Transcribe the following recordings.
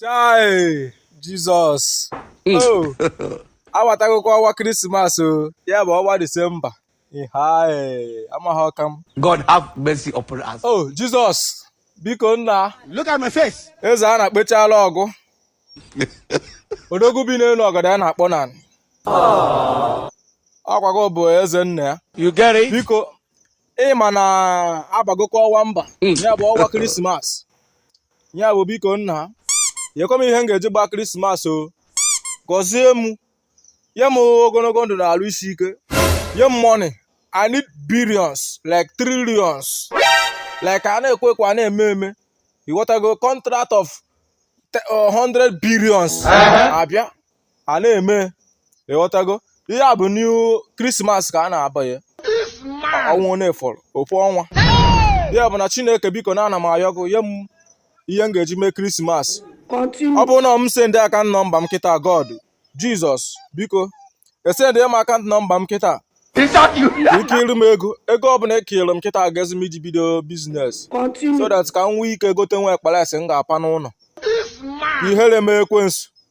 chai jizọs o awatagokwa ọnwa krismas o ya bụ ọnwa disemba hai amaghị ọka m God have mercy upon us. o jizọs biko nna Look at my face. eze a na-akpechala ọgụ odogwu bi n'elu ọgọdọ ya na-akpụ n'anị ọkwa gị bụ eze nna ya You get it? biko ị ma na abagokwa ọnwa mba hmm. ya bụ ọnwa krismas ya bụ biko nna nyekwa m ihe m ga-eji gbaa krismas o gọzie m nye m ogologo ndụ na alụ isi ike nye m money i need billions like trillions like a na-ekwu ekwu a na-eme eme ịghọtago contract of 100 uh, billions uh-huh. abịa a na-eme ịghọtago ihe a bụ new krismas ka a na-abanye ọnwa na-efọrọ ofu ọnwa ya bụ na chineke biko na ana m ayọ gị nye m ihe m ga-eji mee krismas ọ bụrụ na m sendị akaụnt nọmba m kịta god jizọs biko esendị m akaụnt nọmba m kịta i kere m ego ego ọbụla i kere m kịta agazi m iji bido biznes so that ka m nwee ike gote nwa akpa rice m ga-apa n'ụlọ ihere mee ekwensu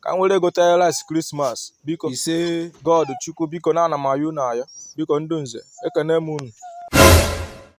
ka m were gote rice krismas biko ise god chukwu biko na ana m ayọ unu ayọ biko ndị nze ekene m unu